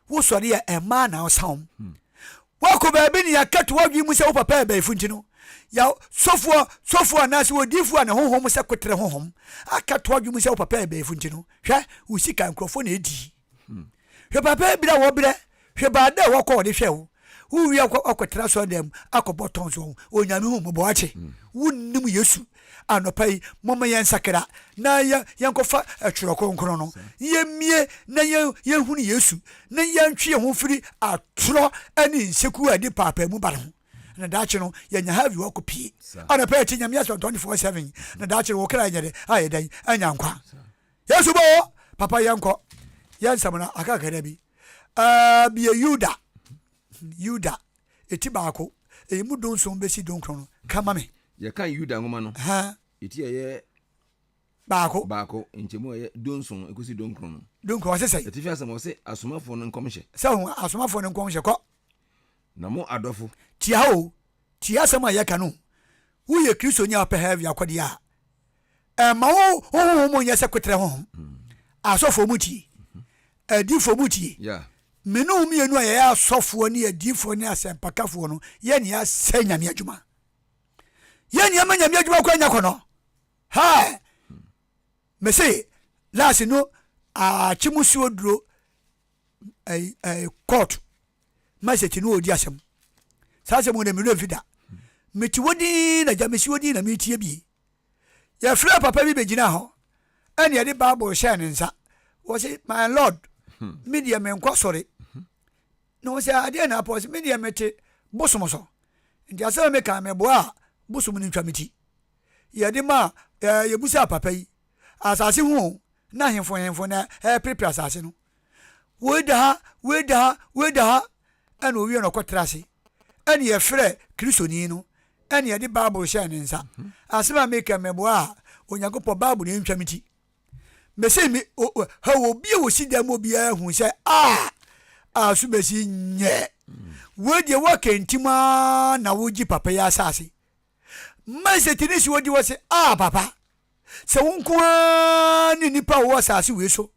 Wo sɔre a, mmaa na ɔsam. Woakɔ baabi na yɛakɛto w'adwen mu sɛ wo papa abaifo ntsi no, ya sɔfoɔ sɔfoɔ anaase odiifo a ne honhom sɛ koterɛ honhom akɛto w'adwen mu sɛ wo papa abaifo ntsi no, hwɛ, wo sika nkorɔfoɔ na edii. Hmm. Hwɛ papa ebira wɔ brɛ, hwɛ baa dɛ wɔkɔ wɔde hwɛ wo. Wo wia kɔ akɔtena sɔrɔ dɛm mu akɔbɔ tɔn so onyame hu mɔbɔ akye. Hmm. Wo nim Yesu anɔpa yi mɔmɔ yɛn sakra na yɛn yɛn kɔfa ɛtwerɛ kronkron no. Yɛn mie na yɛn yɛn hunu Yesu na yɛn twe yɛn ho firi atorɔ ɛne nseku a ɛde paapaa mu ba no ho. Na daakye no yɛn nya ha vi wakɔ pie. Anɔpa yɛ ti nyame asɔ twenty four seven. Na daakye no wɔkra yɛn yɛ dɛ ayɛ dɛ anya nkwa. Yesu bɔ hɔ, Papa yɛnkɔ, yɛ nsɛm no aka kakra bi. Ɛɛ, bie Yuda, Yuda, eti baako, eyi mu dunson besi dunkron no, ka ma me. Yɛkan Yuda nwoma no, eti a ɛyɛ. Baako. Baako, nkyɛmu a ɛyɛ dunson ekosi dunkron no. Dunkron, ɔse sɛn? Atifi asɛm, ɔse asomafoɔ no nkɔmhyɛ. Sɛ ho, asomafoɔ no nkɔmhyɛ, kɔ. Na mo adɔfo. Tie ha o, tie asɛm a yɛka no, woyɛ Kristoni a wopɛ hɛɛvi akɔdeɛ a. ɛma wo honhom mu nyɛ sɛ kwetrɛ honhom asɔfoɔ mu tie adiifoɔ mu tie mene wo mmienu a yɛyɛ asɔfoɔ ne adiifoɔ ne asɛmpakafoɔ no yɛ nea asɛ nyame adwuma yɛ nea ma nyame adwuma kɔ anya kɔnɔ ha mese lase no akye mu suo duro court message no ɔdi asɛm saa asɛm wɔ na mmerɛ mfi da mete wɔ din na gya mesi wɔ din na metie bie Yɛfrɛɛ papa bi bɛgyinaa hɔ ɛne yɛde Bible hyɛɛ ne nsa. Wɔse, my lord, hmm. me deɛ menkɔ sɔre. Hmm. Na wɔse, adeɛ na apɔ se me deɛ mete bosom so. Nti asɛm me kan meboa a bosom no ntwa me ti. Yɛde ma yɛbusaa papa yi, asase ho na hemfo hemfo na ɛreperepere asase no. woi da ha, woi da ha, woi da ha, ɛna owie na ɔkɔtra ase. Ɛne yɛfrɛ Kristoni no, ɛne yɛde Bible hyɛɛ ne nsa. Mhm. Asɛm a meka mmɛboa a Onyankopɔn Bible na ɛntwa me ti. Mese me ha wɔ obi a wɔsi dan mu obiara hu sɛ a a so bɛsi nyɛ. Mm. Wei deɛ wɔka ntim a na wogye papa yi asase. Mma sɛ tini si wɔdi wɔ se a papa sɛ wo nko ara ne nnipa a wɔwɔ asase wei so.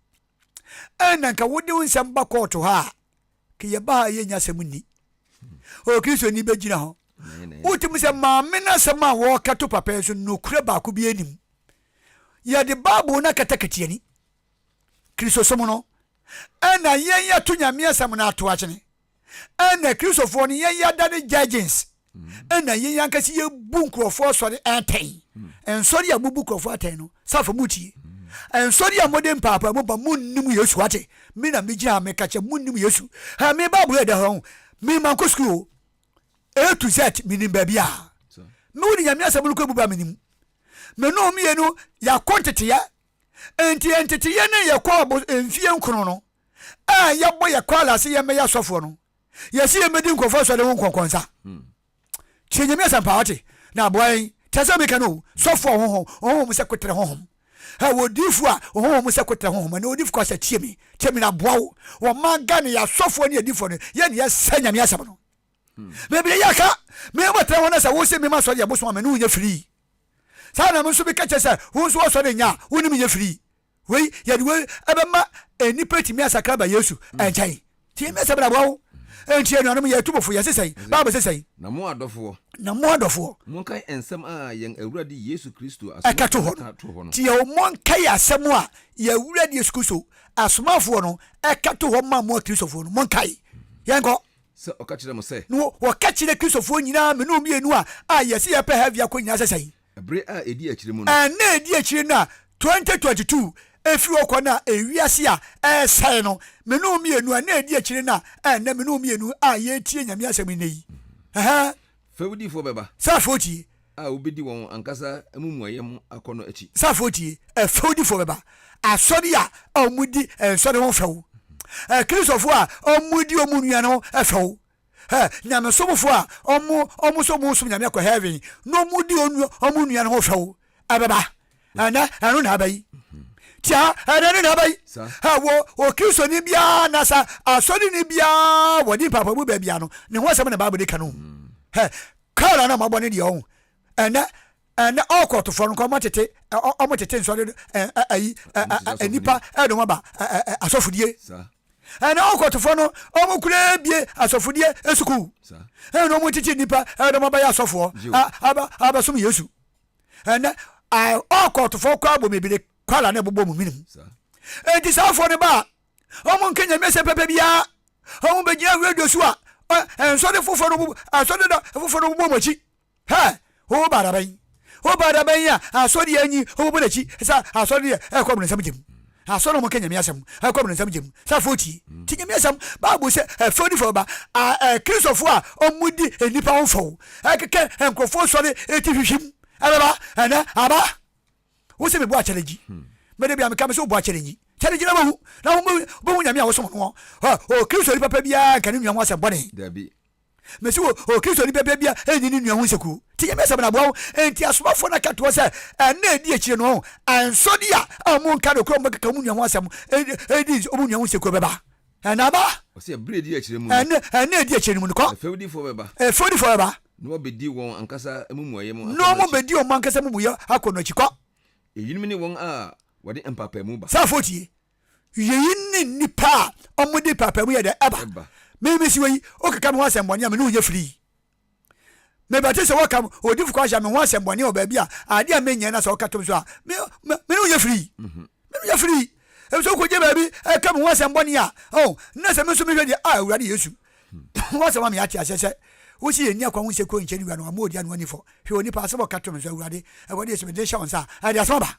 ɛn na nka wode wo nsɛm ba kɔɔto ha a ka yɛba ha a yɛnya asɛm nni o kristoni bɛgyina hɔ wotim sɛ maame no asɛm a wɔka to papa yi so nokorɛ baako bi anim yɛde bible no akata katiani kristosom no ɛna yɛn yɛto nyame asɛm no ato akyene Ɛna Kristofoɔ no yɛn yɛada no judges ɛna yɛn ankasa yɛbu nkurɔfoɔ asɔre atɛn. Ɛnsɔre a mobu nkurɔfoɔ atɛn no, safo motie. Ɛnsɔre a mode mpaapaamu ba monnim Yesu wate. Me na megyina ha meka kyɛ monnim Yesu. Ha me Bible ɛda hɔ ho. Me mankɔ sukuu o. A to Z menim baabi a me wo de Nyame asɛm no kɔ ebu ba menim. Me no mmienu yɛakɔ nteteɛ. Nti nteteɛ no yɛkɔ mfie nkron no. a yɛbɔ yɛ kwaal ase yɛ mbɛyɛ asɔfoɔ no yɛsi yɛ mbɛdi nkorɔfoɔ asɔre ho nkɔnkɔnsa hmm. tie nyame asɛmpa wate na aboa yɛn tɛ sɛ meka no sɔfoɔ ɔhohom ɔhohom sɛ kotere hohom ɛ wɔdiifo a ɔhohom sɛ kotere hohom ɛne wɔdiifo kɔ sɛ tie mi tie mi na aboa wo wɔma ga ne yɛ asɔfoɔ ne yɛ diifo no yɛ ne yɛ sɛ nyame asɛm no hmm. mebire yɛ ka mebɔ tena hɔ no sɛ wo se mema sɔre yɛ bosom a mene wo nyɛ firii Saa na me nso meka kyerɛ sɛ wo nso wɔsɔ ne nya a wonim yɛ firi. Wei, yɛde wei ɛbɛma nnipa atumi asakra aba Yesu nkyɛn. Tie me asɛm na boa wo. Enti anuanom, yɛretu mo fo, yɛse sɛn? Bible se sɛn? Na mo adɔfoɔ. Na mo adɔfoɔ. Monkae nsɛm a yɛn Awurade Yesu Kristo asomafoɔ no ka to hɔ no. Tie o, monkae asɛm a yɛn Awurade Yesu Kristo asomafoɔ no ka to hɔ ma mo Akristofoɔ no. Monkae. Yɛnkɔ. Sɛ ɔka kyerɛ mo sɛ. No, wɔka kyerɛ Kristofoɔ nyinaa mene ɔmmienu a a yɛse yɛpɛ Heaven akɔ nyinaa sɛ sɛn? Bere a ɛdi akyire mu no. Nna a ɛdi akyire no a 2022 ɛfiri hɔ kɔ no a ewiase a ɛresɛe no, mene ɔmmienu a nna a ɛdi akyire no a a nnɛ mene ɔmmienu a yɛretie Nyame asɛm nnɛ yi. Ɛhɛɛ. Fɛwdifoɔ bɛba. Sɛ afei wotie. A wɔbɛdi wɔn ankasa amumuyɛ ho akɔnnɔ akyi. Sɛ afei wotie. Ɛ, fɛwdifoɔ bɛba. Asɔre a wɔdi ɛ, nsɔre ho fɛw. Ɛ, Kristofoɔ a wɔdi wɔn nua no ho fɛw. Ɛ, nyamesomfoɔ a wɔn, wɔn nso wɔresom Nyame akɔ hɛɛven, na wɔdi wɔn, wɔn nua no ho fɛw. ɛbɛba ɛnɛ ɛno na ɛbɛyi tia ɛnɛ no na ɛbɛyi ɛwɔ okristoni biara na sa asɔreni biara wɔ ne mpapamu baabi ano ne ho asɛm na baabɔ de ka no ɛ kaara na ɔmabɔ ne deɛ ɔho ɛnɛ ɛnɛ ɔkɔtofoɔ no nka ɔmo tete ɔmo tete nsɔre ɛyi nipa ɛde ɔmo aba asɔfodie ɛnɛ ɔkɔtofoɔ no ɔmo kura ebie asɔfodie esukuu ɛnɛ ɔmo tete nipa ɛde ɔmo aba yɛ asɔfoɔ abɛsom yesu. ɛnɛ ae all court fo kɔ abɔ mebire kwala na ɛbobɔ mu menim enti saa fo no ba a ɔmo nka nyame sɛ pɛpɛ biara ɔmo bɛgyina radio so a ɛnsɔde foforɔ no asɔde da foforɔ no bobɔ mu akyi hɛ wo ba dabɛn wo ba dabɛn a asɔde anyi ɔmo bɔ n'akyi sɛ asɔde deɛ ɛkɔ ɔmo nsɛm gyem Asɔr na wɔkã Nyame asɛm a ɔkɔ abrɔnsan gya mu sɛ afɔw tsie. Ntsi Nyame asɛm, Bible sɛ fɛw ne fɛwba, Akristofo a wɔdzi nyimpa ho fɛw, kɛkɛ nkorɔfo ɔsɔr etsihwihwim bɛba na aba. Wo se mobɔ akyɛdze nyi? Me da bi a mekã mese wobɔ akyɛdze nyi. Kyɛdze gyina ma hu, na hom bohu Nyame a wɔsom no. Ɔkristo nyi papa biara nnka no nua ho asɛm bɔne. Dabi, Mese wo, o Kristoni pɛpɛ bia nyi ne nua ho nseku. Tie Nyame asɛm na boa wo. Enti asomafoɔ no ka to hɔ sɛ, Ɛnna a ɛdi akyire no, ɔn, ansɔ de a, a ɔmo nka nokorɛ, ɔmo bɛkeka ɔmo nua ho asɛm, ɛ, di ɔmo nua ho nseku, ɛbɛba, ɛnna aba. Ɔse, ɛberɛ a ɛdi akyire mu no. Ɛnna, ɛnna a ɛdi akyire no mu no, kɔ. Ɛfɛwdifoɔ bɛba. Ɛfɛwdifoɔ bɛba. Na wɔbɛdi wɔn ankasa amumuyɛ mu akɔ no akyi. Na wɔn bɛdi wɔn ankasa amumuyɛ akɔ no akyi, kɔ. Eyinom ne wɔn a wɔde mpaapaemu ba. Saafoɔ tie, Wieyi ne nnipa a wɔde paapaemu yɛ dɛn ɛba. Meme si wɔ yi, wokeka me ho asɛmmɔne a me ne wo nyɛ firi. Mebɛte sɛ wɔka odifo Kwasha me ho asɛmmɔne wɔ baabi a adeɛ a menyɛ na sɛ ɔka tom so a me me ne wo nyɛ firi. Mhm. Me ne wo nyɛ firi. Ebi sɛ wokɔgye baabi ɛka me ho asɛmmɔne a oh na sɛ me nso mehwɛ deɛ a ah, Awurade Yesu. Hmm. Wasɛm a meate aseɛ sɛ wosi yɛn ni akwa ho nsɛ kuro nkyɛn wura no ama ɔdi ano anifɔ hwɛ onipa asɛm ɔka to me nso awurade ɛwɔ deɛ sɛ mede hyɛ wo nsa a ɛde asɛm aba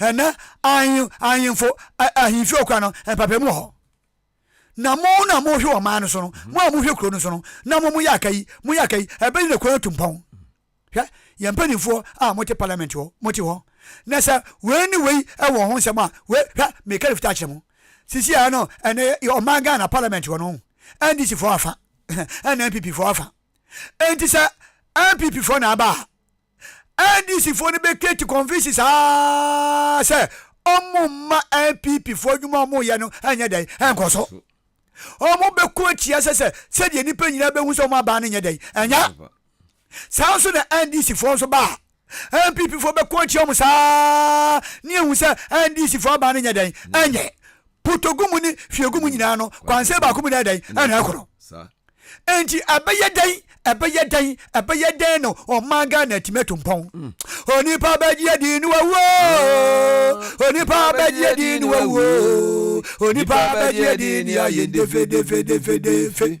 Ɛnnɛ, ahen, ahemfo, ahemfie ɔkwan no, mpaapaemu wɔ hɔ. Na mo na mohwɛ wɔ man no so no, mm-hmm. mo a mohwɛ kuro no so no, na mo moyɛ aka yi, moyɛ aka yi, ɛbɛyi na kwan atu mpɔn. Hwɛ, yɛn mpanimfoɔ a mote parliament hɔ, mote hɔ. Na sɛ wei ne wei wɔ ho nsɛm a, wei, hwɛ, meka ne fitaa kyerɛ mo. Sisi a no, ɛnɛ ɔman Ghana parliament hɔ no, NDC foɔ afa, ɛna NPP foɔ afa. Enti sɛ NPP foɔ na aba a, NDC foɔ no bɛkreti Confucius aa sɛ ɔmo mma NPP foɔ adwuma ɔmo yɛ no ɛnyɛ dɛn ɛnkɔ so. Ɔmo bɛko atia sɛ sɛ sɛdeɛ nipa nyinaa bɛhu sɛ ɔmo abaa no nyɛ dɛn ɛnyɛ. Saa nso na NDC foɔ nso baa NPP foɔ bɛko atia ɔmo saa ne ahu sɛ NDC foɔ abaa no nyɛ dɛn ɛnyɛ. potogu mu ne hwiegu mu nyinaa no kwansɛn baako mu na ɛdɛn ɛna ɛkɔ no nti ɛbɛyɛ dɛn ɛbɛyɛ dɛn ɛbɛyɛ dɛn na ɔma ghana atumi atu mpɔn hmm. onipa bɛgye adi ne wawuo ah. onipa bɛgye adi ne wawuo onipa bɛgye adi ne ayɛ defedefedefedefe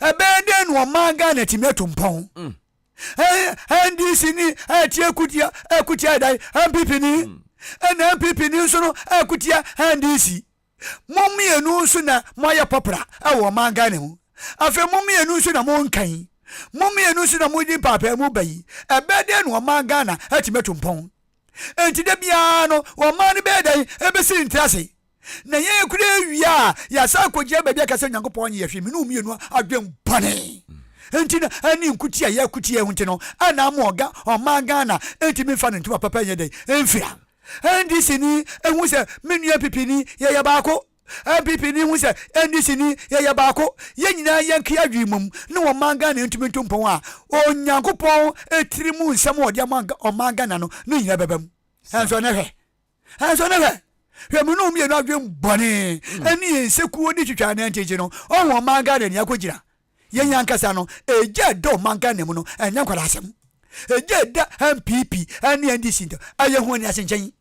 ɛbɛyɛ dɛn na ɔmaa ghana tumi atu mpɔn mm. ndc ni ɛti ɛkutia ɛkutia ɛdan npp ni mm. ɛna npp ni nso no ɛkutia ndc mo mmienu nso na mo ayɛ pɔpra ɛwɔ ɔman ghana mu afei mo mmienu nso na mo nkan mo mmienu nso na mo di mpaapaa mu ba yi ɛbɛyɛ dɛn na ɔman ghana ɛtumi atu mpɔn nti de biara no ɔman no bɛyɛ dɛn ɛbɛsi ntira se. na yɛn kura awie a, yɛasan akɔgyina baabi aka sɛ Onyankopɔn nyɛ hwee, me ne wo mmienu adwen bɔne nti na ɛne nkuti a yɛakuti yɛn ho nti no ɛna ama ɔga ɔman Ghana nti memfa no ntoma papa nyɛ dɛn ɛmfira NDC ni ɛhu sɛ me nua NPP ni yɛyɛ baako NPP ni hu sɛ NDC ni yɛyɛ baako yɛn nyinaa yɛnke adwene mmom ne ɔman Ghana ntumi nto mpɔn a Onyankopɔn ɛtiri mu nsɛm a ɔde ama ɔman Ghana no ne nyinaa bɛbam ɛnso ɛnɛ hwɛ Nanso ne hwɛ, hwɛ mo ne wɔn mmienu adwen bɔne hmm. ɛne yɛn nsekuo ne twitwa ne nkyekye no, ɔho ɔman Ghana ni akɔgyina. Yɛn hmm. ankasa no, ɛgya ɛda ɔman Ghana mu no, ɛnyɛ nkwadaa asɛm. Ɛgya ɛda NPP ɛne NDC ntam, ɛyɛ ho ani ase nkyɛn.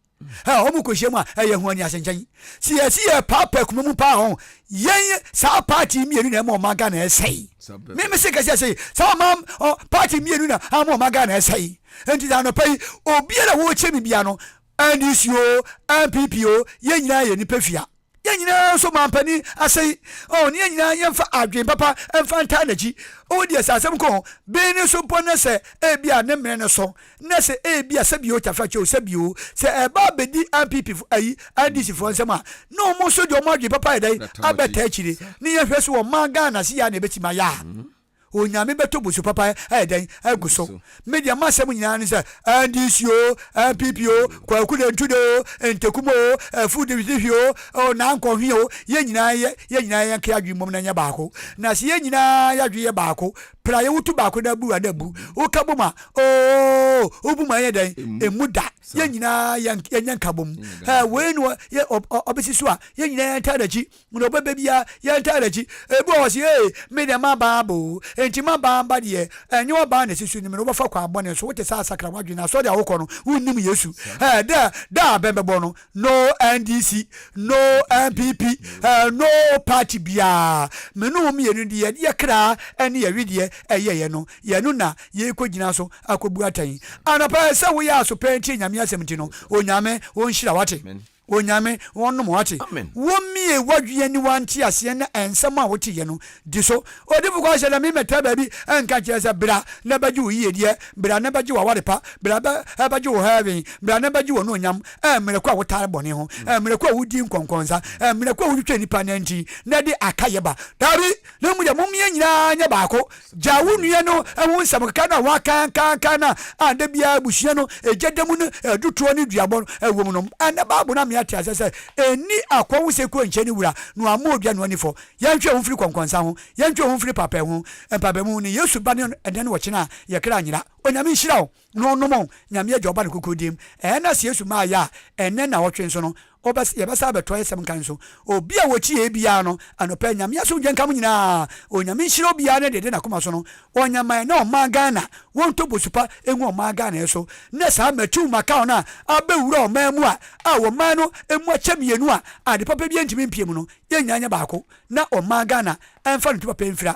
wɔn hmm. kɔhyia mu a ɛyɛ ho ani ase nkyɛn. Si yɛsi yɛ paapaa kuma mu paa ho, yɛn saa paati mmienu na ɛma ɔman Ghana ɛsɛe. Mímí si kɛse ɛsɛe, saa ɔman paati mmienu na ama ɔman Ghana ɛsɛe nti na anɔpa yi obiara a wɔrekyɛ mi bia no NDC o, NPP o, yɛn nyinaa yɛ nnipa fia. Yɛn nyinaa nso mampanin ase yi, ɔn, yɛn nyinaa yɛmfa adwene papa mfa ntaa n'akyi. Ɔwɔ deɛ sɛ asɛm kɔn, bee no so mpo na sɛ ebi a ne mmere no so, na sɛ ebi a sɛbi o, Tafra kyɛ o, sɛbi o, sɛ ɛba abɛdi NPP foɔ, ayi, NDC foɔ nsam a, na wɔn nso deɛ wɔn adwene papa ayɛ dɛn, abɛtaa akyire. Ne yɛnhwɛ so wɔ man Ghana ase yi a na ɛbɛtumi ayɛ a. Onyame bɛtɔ busu papa ayɛ dɛn agu so. Me deɛ masɛm nyinaa ne sɛ NDC o, NPP o, Kwaku Dentude o, Ntekum o, Afu Dihwi o, o Nankɔhwe o, yɛn nyinaa yɛ yɛn nyinaa yɛn ka yɛadwene mmom na ɛnyɛ baako. Na sɛ yɛn nyinaa yɛadwene yɛ baako pɛ a yɛwoto baako na abu a na abu. Woka bom a oo wobu mu a ɛnyɛ dɛn ɛmu da. Yɛn nyinaa yɛn yɛnyɛ nkabom. Ɛɛ wei ne ɔ yɛ ɔ ɔ ɔbɛsi so a yɛn nyinaa yɛntaa n'akyi. Hunu ɔbɛ bɛ biaa yɛ ntaa n'akyi Ebi wɔ hɔ ɔse ee me deɛ maba aba oo Enti maba mba deɛ ɛnyɛ w'aba na ɛsisi Nim no wobɛfa kwan bɔne so Wote saa sakra w'adwene na asɔre a wokɔ no Wonnim Yesu ɛɛ dɛ Da a bɛn bɛbɔ no No NDC No NPP ɛɛ No party biaa Me ne wo mmienu deɛ Yɛ kra ɛne yɛ wedeɛ Ɛyɛ yɛ no yɛ no na Yɛkɔ gyina so akɔbu atɛn Anɔpa ɛsɛ woyɛ aso pɛn tie Nyame asɛm nti no Onyame ɔnhyira wo wate. Onyame wo nom wate. Amen. Wo mie wadwea ni wa nte aseɛ na ɛnsɛm a wo te yɛ no di so odifo kɔ hyɛ dɛ me mɛtra baabi ɛnka kyerɛ sɛ bra na bɛgye wo yie deɛ bra na bɛgye wo aware pa bra bɛ ɛbɛgye wo heaven bra na bɛgye wo no onyam ɛmmerɛ ko a wo tare bɔne ho ɛmmerɛ ko a wo di nkɔnkɔnsa ɛmmerɛ ko a wo twitwa nipa nanti na de aka yɛ ba dabi na mu deɛ mo mie nyinaa nyɛ baako Gyaa wo nua no ho nsɛmkeka no a wɔakankankan no a da biara abusua no gya da mu no du toɔ ne duabɔ no wom no. Ɛnnɛ Bible no ama yɛate aseɛ sɛ, Ɛnni akoa ho sɛ kɔ nkyɛn ne wura, na wamma odwa no anifɔ. Yɛntwe yɛn ho mfiri kɔnkɔnsa ho. Yɛntwe yɛn ho mfiri mpaapaemu ho. Mpaapaemu ne Yesu ba no dɛn wɔ kyena a yɛkra nyera? Onyame nhyira wo. no nom Nyame Agya, Ɔba, ne Krokron Din mu. Ɛɛ na sɛ Yesu maa yɛ a, ɛnnɛ nnaawɔtwe nso no, wobɛs yɛbɛsan abɛtoa yɛsɛm nka nso. Obi a wɔkyi yɛɛ biara no, anɔpa yi, Nyame asomdwoe nka mo nyinaa. Onyame nhyira obiara ne deɛ ɛde nakoma so no Ɔnya ma ɛnɛ ɔman Ghana. Wɔntɔ bosupa ngu ɔman Ghana yɛ so ne saa Matiu Makaw no a abɛwura ɔman mu a, a ɔman no mu akyɛ mmienu a ade papa biara ntumi mpie mu no, yɛn nyinaa nyɛ baako na ɔman Ghana mfa ne tu papa mfira.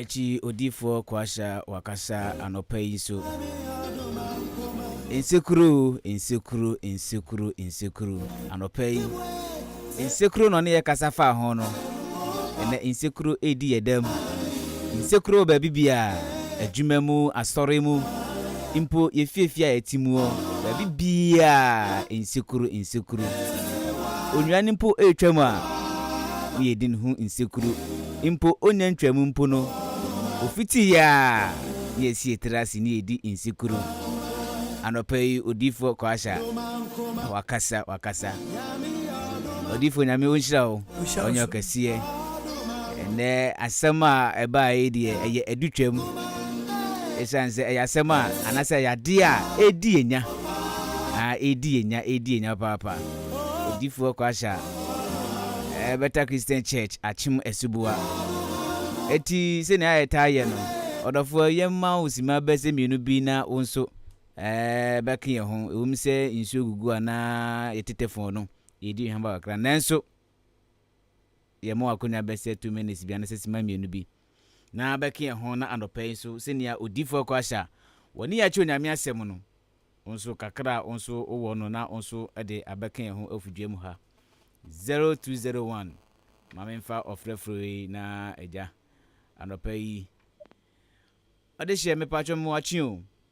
Akyi odiyifoɔ Kwasha wakasa anɔpa yi nso. Nsekuro o, nsekuro, nsekuro, nsekuro. Anɔpa yi, nsekuro na ɔne yɛ kasa faa ho no. Ɛnɛ nsekuro redi yɛ dam. Nsekuro wɔ baabi biara, adwuma mu, asɔre mu. Mpo yɛfiefie a yɛte mu hɔ, baabi biara nsekuro, nsekuro. Onwuran mpo retwam a, woyɛ din ho nsekuro. Mpo onnya ntwaam mpo no, ofiti yɛ a, ne yɛasi yɛn tiri ase ne yɛredi nsekuro. Anɔpa yi, Odiyifoɔ Kwaasha, wakasa, wakasa. Ɔdifo Nyame onhyira wo ɔnyɛ ɔkɛseɛ ɛnɛ asɛm a ɛbaa yi deɛ ɛyɛ adu twam ɛsiane sɛ ɛyɛ asɛm a anasɛ ɛyɛ adeɛ a ɛdi yɛ nya ɛdi yɛ nya ɛdi yɛ nya paapa ɔdifo ɔkɔ ahyɛ a ɛbɛta Christian Church akyem asuboa ɛti sɛnea ɛtaa yɛ no ɔdɔfoɔ yɛmma wo sima bɛsɛ mmienu bi na wo nso bɛka yɛn ho. Ɛwom sɛ nsuo gugu a na yɛtetɛ fɔɔ no, yɛredi hwammɔ kakra, nanso yɛn mɔ akonnwa bɛsɛ two minutes bi anaasɛ sima mmienu bi na bɛka yɛn ho. Na anɔpa yi nso, sɛnea odiifoɔ kɔ ahyɛ a wɔne yɛn akyerɛ Onyame asɛm no, wo nso kakra a wo nso wowɔ no na wo nso de abɛka yɛn ho afu dwa mu ha. 0201 ma memfa ɔfrɛfrɛ yi na agya anɔpa yi ɔde hyɛ mepatwɔ mo akye o.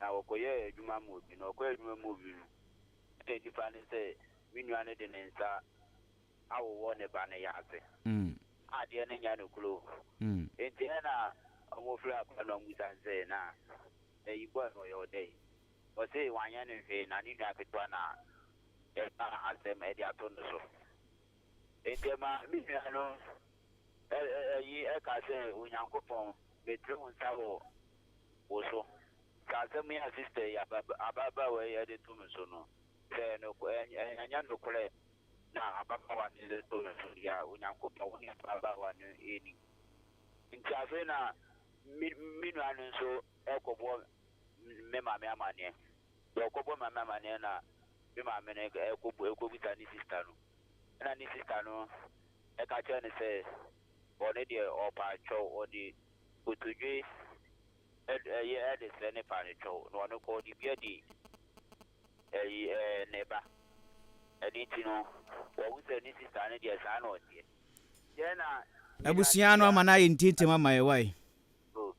na wɔkɔyɛɛ adwuma maa obi, na ɔkɔyɛɛ adwuma maa obi no, ɛnna nnipa no sɛ, Me nua no de ne nsa awowɔ ne ba no yaase, na adeɛ no nya no kuro. Enti ɛnna wɔfrɛɛ akoa no, na wɔbisa no sɛ, Na ayi boy no, ɔyɛ wo dɛn? Ɔse wanyɛ no hwee, na ne nua ketewa na ɛkaa asɛm de ato no so. Enti ɛmaa me nua no Eyi ka sɛ, Onyankopɔn, metene wo nsa wɔ wo so. Sɛ asɛm yi a sista yi, ababaawa yi de to me so no, sɛ ɛnyɛ nokorɛ na ababaawa no de to me so deɛ a, Onyankopɔn, wo ne ababaawa no nni. Enti afei na me nua no nso rekɔbɔ me maame amanneɛ. Deɛ ɔkɔbɔ maame amaneɛ no a, me maame no ɛkɔbisa ne sista no, ɛna ne sista no ɛka kyerɛ no sɛ ɔno deɛ ɔpaatwɛw ɔde kotodwe ɛyi ɛde srɛ ne paatwɛw na ɔno kɔ ɔde bi adi ɛyi ɛɛ ne ba. Ɛno nti no wahu sɛ ne sista no deɛ saa na ɔteɛ. Deɛ na. Abusua no ama no ayɛ ntintim ama yɛn wai? Oh.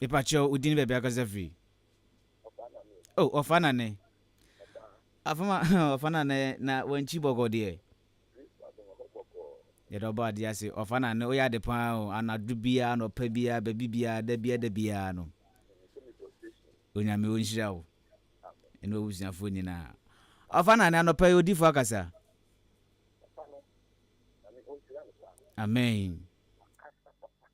Mepakyɛw, wo din baabi akasa firi? Oh, ɔfa nane. Afama, ɔfa nane na wankyi bɔkɔ deɛ. Yɛde ɔbɔ adeɛ ase, ɔfa nane, woyɛ ade paa o, anadwo biara, anɔpa biara, baabi biara, da biara, da biara no. Onyame ɔnhyira wo. Ɛne wabusuafoɔ nyinaa. Ɔfa nane, anɔpa yi odifoɔ akasa. Amen.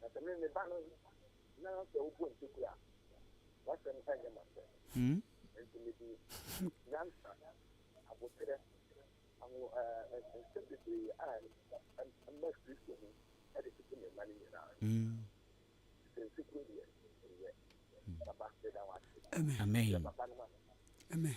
Na sɛ me meba no na sɛ wobɔ ntoku a, w'asɛm nyɛ m'asɛm. Enti mede nyansa, aboterɛ, anwo ɛɛ nsɛm bebree a ɛma Kristo ho de toto me mma no nyinaa so. Sɛ nsu koro deɛ, menyɛ. Papa, meda wo ase. Amen. Hyɛ papa no ma me. Amen.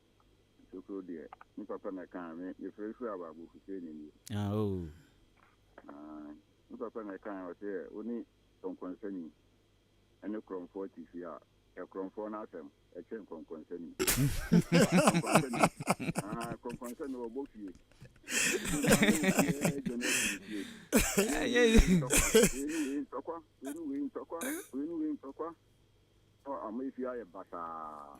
Nsokoro deɛ, me papa na ɛkaa me, yɛfrɛ no Firi Abaa Bofuseni nie. Ah, oh. Ah, me papa na ɛkaa ɔsɛ yɛ, wo ne Kɔnkɔnsani ɛne Korɔmfoɔ te fie a, yɛ Korɔmfoɔ no asɛm, ɛkyɛn Kɔnkɔnsani. Ah, Kɔnkɔnsani ɔbɔ fie. Ntɔkwa, wei ne wei ntɔkwa, wei ne wei ntɔkwa. Ɔ, ama fie ayɛ basaa.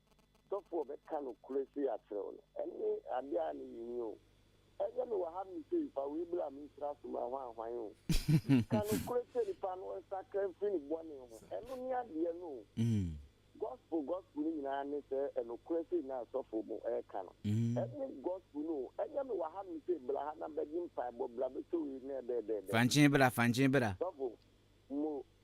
Sɔfo a ɔbɛka nokorɛ sei akyerɛ wo no, ɛne adeɛ a ne yɛhia o. Ɛnyɛ me wɔ ha nom sei, fa wei bra mensra so ma hwanhwan o. Ka nokorɛ kyerɛ nipa na ɔnsakra mfiri ne bɔne ho, ɛno ne adeɛ no o. Gospel gospel no nyinaa ne sɛ nokorɛ sei na sɔfo no reka no. Ɛne gospel no o. Ɛnyɛ me wɔ ha nom sei, bra ha na bɛgye mpaebɔ, bra bɛtɔ wei na ɛdɛɛdɛɛdɛ. Fankye bra, fankye bra. Sɔfo, mo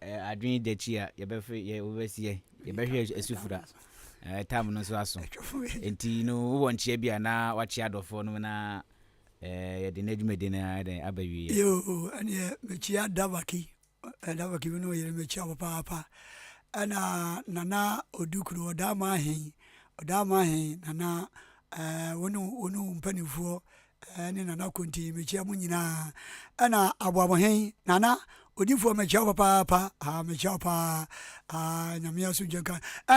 eh, adwene dakyi a yɛbɛfrɛ yɛ wobɛsiɛ yɛbɛhwɛ asufura eh, tam no nso aso nti no wowɔ nkyea bi a na wakyea adɔfoɔ no na eh, yɛde no adwumadi no dɛn aba wieɛ yoo ɛneɛ mekyia davaki davaki bi ne ɔyere mekyia wɔ paapa ɛna nana ɔdu kuro ɔdaa ma ahen ɔdaa ma ahen nana eh, wo ne wo ne wo mpanimfoɔ ne Nana Konti mekyia mo nyinaa ɛna aboabohen Nana odifoɔ mekyia wo papaapa aa mekyia wo paa aa Nyame asomdwe nka ɛna